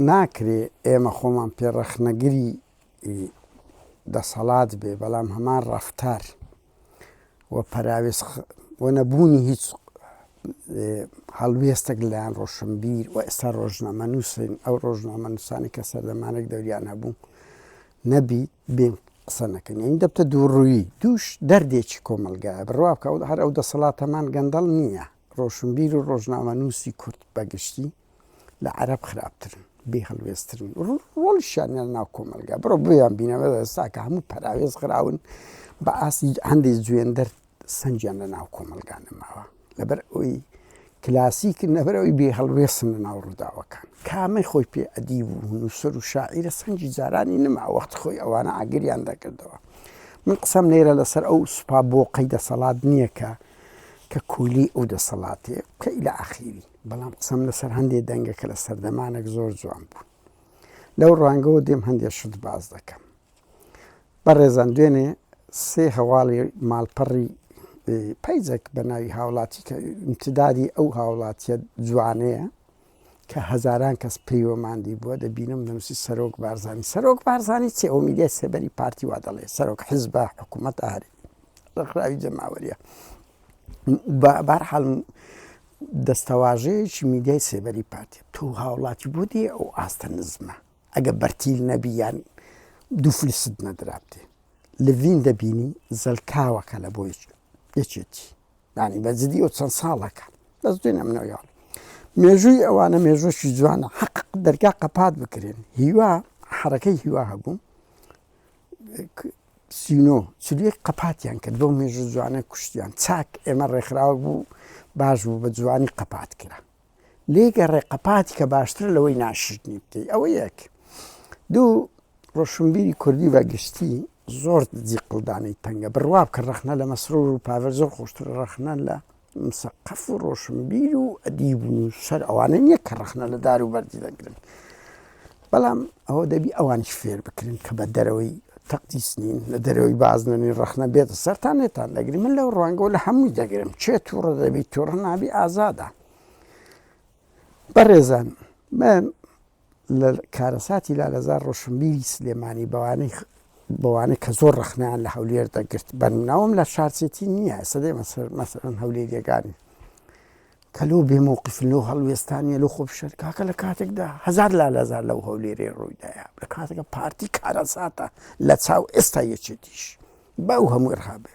ناکرێ ئێمە خۆمان پێ ڕەخنەگری دەسەڵات بێ بەڵام هەمان ڕەفتار و پەراوێز و نەبوونی هیچ هەڵوێستێک لەیان ڕۆشنبیر و ئێستا ڕۆژنامە نووسین ئەو ڕۆژنامە نووسانی کە سەردەمانێک دەوریان هەبوو نەبی بێن قسە نەکەن یعنی دەبتە دووڕووی دووش دەردێکی کۆمەلگایە بڕوا بکە هەر ئەو دەسەڵاتەمان گەندەڵ نییە ڕۆشنبیر و ڕۆژنامەنووسی کورد بە گشتی لە عەرەب خراپترن، بێ هەڵوێستترن، ڕۆڵیشیان نییە لە ناو کۆمەڵگا، بڕۆ بۆیانبینە بە ئێستا کە هەموو پەراوێز خراون بە ئاستی هەندێک جوێندەر سەنگیان لە ناو کۆمەڵگا نەماوە لەبەر ئەوی کلاسیکن لەبەر ئەوی بێ هەڵوێستن لە ناو ڕووداوەکان، کامەی خۆی پێ ئەدیب و نووسەر و شاعیرە سەنگی جارانی نەما وەختی خۆی ئەوانە ئاگریان دەکردەوە، من قسەم لێرە لەسەر ئەو سوپا بۆقەی دەسەڵات نییە کە کە کولی ئەو دەسەڵاتەیە بکە ئیلە ئاخیری، بەڵام قسەم لەسەر هەندێ دەنگە کە لە سەردەمانەک زۆر جوان بوون. لەو ڕوانگەوە دێم هەندێ شت باس دەکەم. بەڕێزان دوێنێ سێ هەواڵی ماڵپەڕی پەیجێک بە ناوی هاوڵاتی کە امتدادی ئەو هاوڵاتیە جوانەیە کە هەزاران کەس پێی وەماندی بووە دەبینم دەنووسی سەرۆک بارزانی سەرۆک بارزانی چێ ئەو میدیای سێبەری پارتی وا دەڵێ سەرۆک حزبە حکوومەت ئاری ڕخراوی جەماوەریە بارحاڵ دەستەواژەیەکی میدیای سێبەری پارتی تو هاوڵاتی بۆ دێ ئەو ئاستە نزمە ئەگە بەرتیل نەبییان دوو فلست نەدرابێ لڤین دەبینی زەلکاوەکە لە بۆ یەکێتی یانی بە جدی و چەند ساڵەکە بەس دوێن ئەم نەویاڵ مێژووی ئەوانە مێژووشی جوانە حەق دەرگا قەپات بکرێن هیوا حرەکەی هیوا هەبوو سینۆ چلیەک قەپاتیان کرد بۆ مێژوو جوانە کوشتیان چاک ئێمە ڕێکخراوە بوو باش بوو بە جوانی قەپات کرا لێ گەڕێ قەپاتی کە باشترە لەوەی ناشرنی بکەی ئەوە یەک دوو ڕۆشنبیری کوردی بە گشتی زۆر دزی قڵدانی تەنگە بڕوا بکە ڕخنە لە مەسرور و پاڤەر زۆر خۆشتر ڕخنە لە مسەقەف و ڕۆشنبیر و ئەدیب و نووسەر ئەوانە نییە کە ڕخنە لە دار و بەردی دەگرن بەڵام ئەوە دەبی ئەوانش فێر بکرن کە بە دەرەوەی تەقدیس نین لە دەرەوەی بازنەنی ڕخنە بێت سەران نێتان دەگری من لەو ڕوانگەوە لە هەمووی دەگرم چێ تووڕە دەبی تووڕ نابی ئازادە بەڕێزان من لە کارەساتی لالەزار ڕۆشنبیری سلێمانی بەوانەی بەوانە کە زۆر ڕخنیان لە هەولێر دەگرت بەناوم لە شارچێتی نییە سەدەی مەسەر مەسەرن هەولێریەکانی کە لەو بێ مەوقیفن لەو هەڵوێستانە لەو خۆپیشان کاکە لە کاتێکدا هەزار لالەزار لەو هەولێرێ ڕوویدایە لە کاتێکە پارتی کارەساتە لە چاو ئێستا یەکێتیش باو هەموو ڕابێ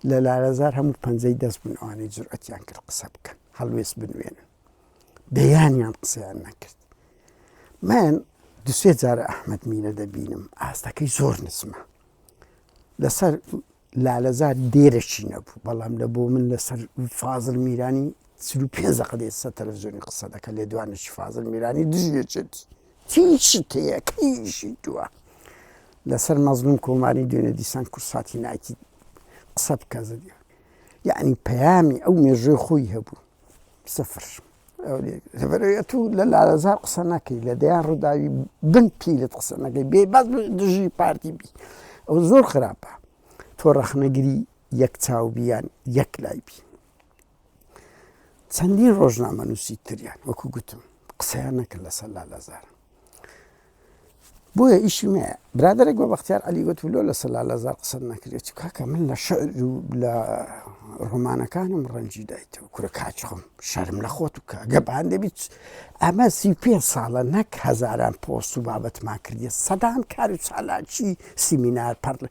لە لالەزار هەموو پەنجەی دەست بوون ئەوانەی جرئەتیان کرد قسە بکەن هەڵوێست بنوێنن دەیانیان قسەیان نەکرد من دوسێ جارە ئەحمد مینە دەبینم ئاستەکەی زۆر نزمە لەسەر لالەزار دێرەکی نەبوو بەڵام لە بۆ من لەسەر فازڵ میرانی چل و پێنج دەقە دێت سەر تەلەفزیۆنی قسە دەکە لێدوانێکی فازڵ میرانی دژێچێتی تیشی تەیە کەیشی توە لەسەر مەزلوم کۆماری دوێنێ دیسان کورد ساتی ناکی قسە بکە زدیان یعنی پەیامی ئەو مێژوی خۆی هەبوو سفر لەبەرەیە تو لە لارەزار قسە نەکەی لە دەیان ڕووداوی بن پیلت قسە نەکەی بێ باز دژی پارتی بی ئەو زۆر خراپە تۆ ڕەخنەگری یەک چاو بیان یەک لای بی چەندین ڕۆژنامە نووسی تریان وەکو گوتم قسەیان نەکرد لەسەر لالەزار بۆیە ئیشی مەیە. برادەرێک بە بەختیار عەلی گوت ولۆ لە سەلا لەزار قسەت نەکرێ چ کاکە من لە شعر و لە ڕۆمانەکانم ڕەنجی دایتەوە کورە کاچخم شەرم لە خۆت و کە گەپ هەندێ بیت ئەمە سی پێ ساڵە نەک هەزاران پۆست و بابەتمان کردیە سەدان کار و چالاکی سیمینار پەڕل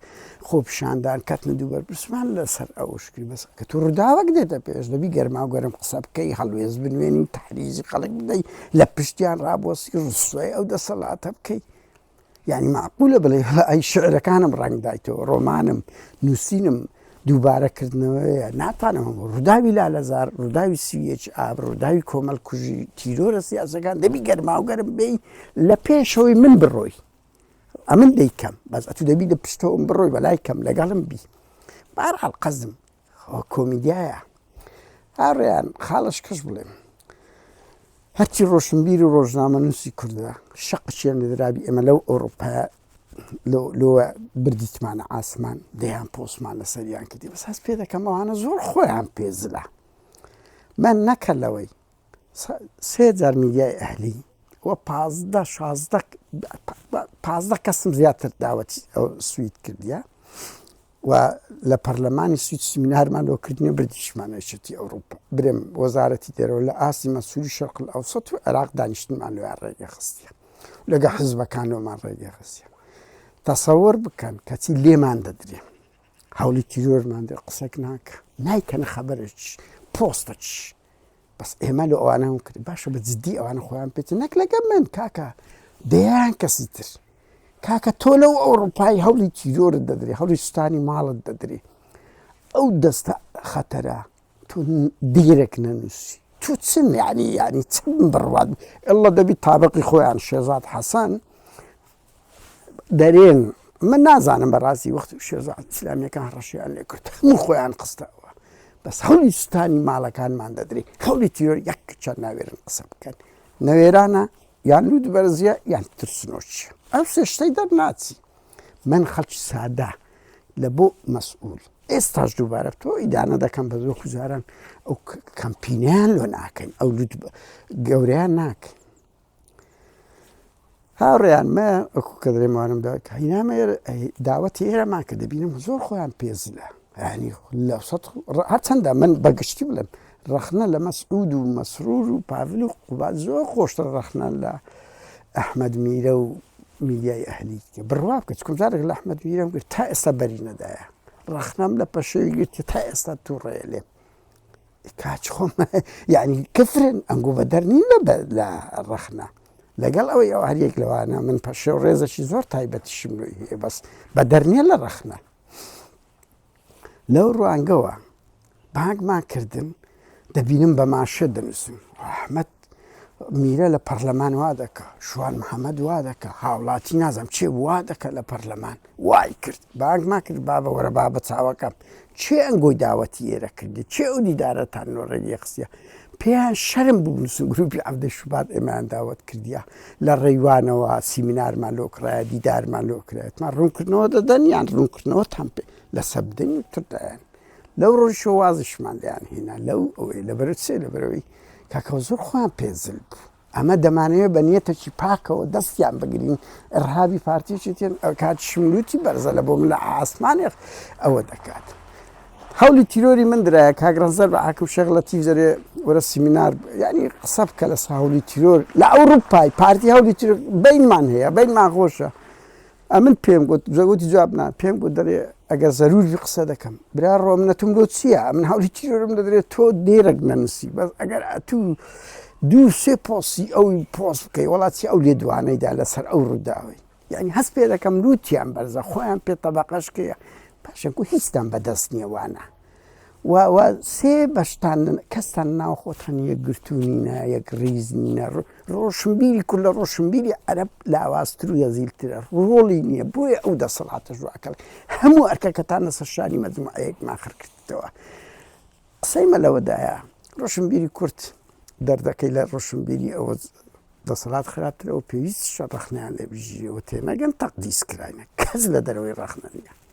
خۆپیشاندان کەتنە دوو بەرپرسمان لەسەر ئەوشکری بەس کە تو ڕووداوەک دێتە پێش دەبی گەرما و گەرم قسە بکەی هەڵوێز بنوێنی و تحریزی خەڵک بدەی لە پشتیان ڕابۆسی ڕسوای ئەو دەسەڵاتە بکەیت یعنی معقولە بڵێ ئەی شعرەکانم ڕنگدایتەوە ڕۆمانم نووسینم دووبارەکردنەوەیە ناتانەوە ڕووداوی لالەزار ڕووداوی سویەچ ئاب ڕووداوی کۆمەلکوژی تیرۆرە سیاسەکان دەبی گەرماوگەرم بی لە پێشەوەی من بڕۆی ئەمن دەی کەم بەس ئەتو دەبی لە پشتەوەم بڕۆی بەلای کەم لەگەڵم بی بارحاڵ قەزم کۆمیدیایە هاڕیان خاڵش کەش بڵێم هەرچی ڕۆشنبیری و ڕۆژنامە نووسی کوردە شەق چێن لەدرابی ئێمە لەو ئۆروپا لۆ بردیتمانە ئاسمان دەیان پۆسمان لە سەریان کردی بەس هەست پێ دەکەمەوانە زۆر خۆیان پێزلە من نەکە لەوەی سێ جار میدیای ئەهلی و پازدە شازدە پازدە کەسم زیاتر داوەتی ئەو سوید کردە و لە پەرلەمانی سوید سیمینارمان لۆ کردنی بردیشمانەشێتی ئەوروپا برێم وەزارەتی دەرەوە لە ئاستی مەسووری شەرقل ئەوسەت و عێراق دانیشتمان لە ڕێگە خستە لەگە حزبەکانەوەمان ڕێگە خستە تەسەور بکەن کەچی لێمان دەدرێ هەولی تیرۆرمان دە قسەک ناکە نایکەنە خەبەرێک پۆستەچ بەس ئێمە لە ئەوانە هەم کرد باشە بە جددی ئەوانە خۆیان پێێت نەک لەگە من کاکە دەیان کەسی تر کاکە تۆ لەو ئەوروپای هەولی تیرۆرت دەدرێ هەولی سوستانی ماڵت دەدرێ ئەو دەستە خەتەرە تۆ دیرێک نەنووسی تو چن یعنی یعنی چ بڕوات ئللا دەبی تابقی خۆیان شێزاد حەسەن دەرێن من نازانم بەڕاستی وەخت و شێرزا ئیسلامیەکان ڕەشیان لێ کرد من خۆیان قستەوە بەس هەولی سوستانی ماڵەکانمان دەدرێت هەولی تیۆر یەک کچە ناوێرن قسە بکەن نەوێرانە یان لوود بەرزیە یان ترسنۆچیە ئەو سێشتەی دەرناچی من خەڵکی سادا لە بۆ مەسئول ئێستاش دووبارە تۆ ئیدانە دەکەم بە زۆ کوزاران ئەو کەمپینیان لۆ ناکەین ئەو لوود گەوریان ناکەین هاوڕێیان مە ئەکو کە دەێ ماوانم دا هینامە داوەتی ئێرەمان کە دەبینم زۆر خۆیان پێزلە ینی لە هەرچەندە من بەگشتی بڵێم ڕخنە لە مەسعود و مەسرور و پاڤل و قوبات زۆر خۆشتر ڕخنە لە ئەحمد میرە و میدیای ئەهلی کە بڕوا بکە چکم جارێک لە ئەحمد میرەم گرت تا ئێستا بەری نەدایە ڕخنەم لە پەشێوی گرت کە تا ئێستا تووڕێ لێ کاچ خۆم یعنی کفرن ئەنگۆ بە دەرنین بە لە ڕەخنە لەگەڵ ئەوەی ئەو هەریەک لەوانە من پەشێ و ڕێزەشی زۆر تایبەتیشم لۆی هەیە بەس بە دەرنیە لە ڕەخنە لەو ڕوانگەوە بانگمان کردن دەبینم بە ماشە دەنووسن ئەحمد میرە لە پەرلەمان وا دەکا شوان محەممەد وا دەکە هاوڵاتی نازم چێ وا دەکە لە پەرلەمان وای کرد بانگما کرد بابە وەرە با بە چاوەکەم چێ ئەنگۆی داوەتی ئێرە کردی چێ ئەو دیدارەتان نۆ ڕێگی قسیە پێیان شەرم بوونسن گروپی عبدە شوبات ئێمان داوت کردیا لە ڕێوانەوە سیمینارمان لۆکرایە دیدارمان لۆکرێتمان ڕوونکردنەوە دەدەن یان ڕوونکردنەوە تام پێ لە سەبدەنی تردایان لەو ڕۆژەوە وازیشمان لێیان هێنا لەو ئەوەی لە بەرە چێ لە بەرەوەی کاکە زۆر خۆیان پێزل بوو ئەمە دەمانەیە بە نیەتەکی پاکەوە دەستیان بگرین ڕهاوی پارتیشی تێن کات شملوتی بەرزە لە بۆ من لە ئاسمانێخ ئەوە دەکات. هەولی تیرۆری من درایە کاگرانزەر بە ئاکم شێغ لە تیزەرێ وەرە سیمینار ینی قسە بکە لە ساولی تیرۆر لە ئەوروپای پارتی هەولی بینمان هەیە بینمان خۆشە ئەمن پێم گوت زەوتی جواب نا پێم گوت دەرێ ئەگەر زەروری قسە دەکەم برا ڕۆمنەتم لۆ چییە من هەولی تیرۆرم دەدرێت تۆ دێرەک نەنووسی بەس ئەگەر ئەتو دوو سێ پۆسی ئەو پۆس بکەی وڵاتی ئەو لێ دوانەیدا لەسەر ئەو ڕووداوی یعنی هەست پێ دەکەم لووتیان بەرزە خۆیان پێ تەبقەشکەیە پاشەکو هیچتان بەدەست نییە وانە و وا سێ بەشتان کەستان ناو خۆتان یەکگرتوو نینە یەک ڕیز نینە ڕۆشنبیری کورد لە ڕۆشنبیری عەرەب لاوازتر و یەزیلترە ڕۆڵی نییە بۆیە ئەو دەسەڵاتە ژواکەڵ هەموو ئەرکەکەتان لەسەر شانی مەجموعەیەکمان خڕ کردەوە قسەی مە لەوەدایە ڕۆشنبیری کورد دەردەکەی لە ڕۆشنبیری ئەوە دەسەڵات خراپترەوە پێویست شە ڕەخنیان لێ بژیەوە تێنەگەن تەقدیس کراینە کەس لە دەرەوەی ڕەخنە نیە